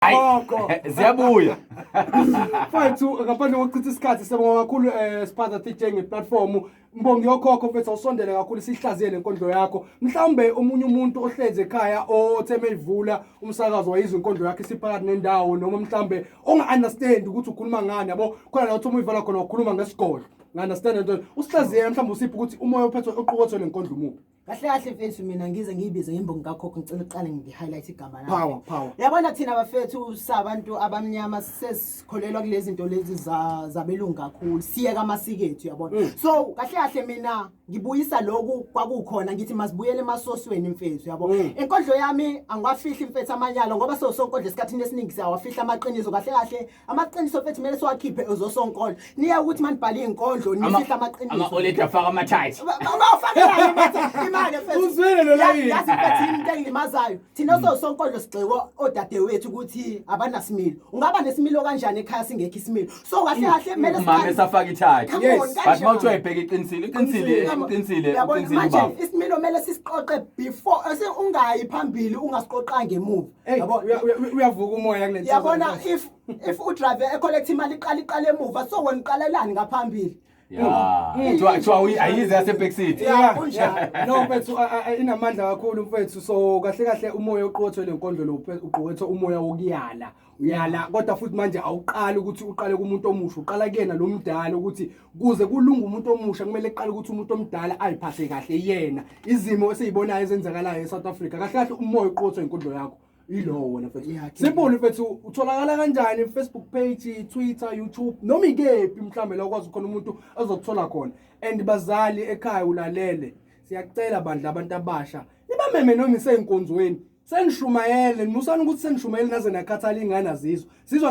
Gogo. Ziyabuya. Mfethu ngaphandle kokuchitha isikhathi siyabonga kakhulu eh Siphatha TJ ngeplatform. Mbongi yokhokho mfethu awusondele kakhulu sihlaziye lenkondlo yakho. Mhlawumbe omunye umuntu ohleze ekhaya othe meyivula umsakazo wayizwa inkondlo yakhe siphakathi nendawo noma mhlawumbe onga understand ukuthi ukhuluma ngani yabo khona la uthi uma uyivala khona ukhuluma ngesigodlo. Nga understand into usihlaziye mhlawumbe usiphi ukuthi umoya ophethwe oqukethwe lenkondlo umubi. kahle kahle mfethu mina ngize ngiyibize ngembongi kakhokho ngicela uqale ngi-highlight igama lakhe. Power, power. yabona thina bafethu sabantu abamnyama sesikholelwa kulezi nto lezi za- zabelungu kakhulu siyeka amasiko ethu yabona Mm. so kahle kahle mina ngibuyisa loku kwakukhona ngithi masibuyele emasosweni mfethu yabo Mm. inkondlo yami angiwafihli mfethu amanyalo ngoba so sonkodla esikhathini esiningi siyawafihla amaqiniso kahle kahle amaqiniso fethu kumele siwakhiphe ezosonkolo niya ukuthi manibhale izinkondlo nisihla amaqiniso ama oledi afaka ama tight bawafakela bathi imali fethu uzwele lo layi yazi fethu into engilimazayo thina mm. sosonkondlo sigxekwa odadewethu ukuthi abanasimilo ungaba nesimilo kanjani ekhaya singekho isimilo so kahle mm. kahle kumele mama esafaka ithathe but mawuthiwa ibheke iqinisile iqinisile iqinisile iqinisile baba isimilo kumele sisiqoqe before ungayi phambili ungasiqoqanga emuva Hey, Yabo- uya- uya- uya- uyavuka umoya kule nsizwa. yabona if if udrive ecollect imali iqala iqala emuva so wena uqalelani ngaphambili Ya. Kuthiwa kuthiwa uyi- ayize yase Park City. Yeah, Yeah, kunjalo. yeah. No mfethu a- a- a- inamandla kakhulu mfethu so kahle kahle umoya oqothwe lenkondlo lo mfethu, uqothwe umoya wokuyala uyala kodwa futhi manje awuqali ukuthi uqale kumuntu omusha uqala kuyena lo mdala ukuthi kuze kulunga umuntu omusha kumele eqale ukuthi umuntu omdala ayiphathe kahle yena izimo esiyibonayo ezenzakalayo eSouth Africa kahle kahle umoya uqothwe inkondlo yakho ilowo wena mfethu simple mfethu utholakala kanjani Facebook page Twitter YouTube noma ikephi mhlambe la ukwazi khona umuntu azokuthola khona and bazali ekhaya ulalele siyacela bandla abantu abasha nibameme noma isenkonzweni senishumayele nimusani ukuthi senishumayele naze nakhathala ingane azizwa sizwa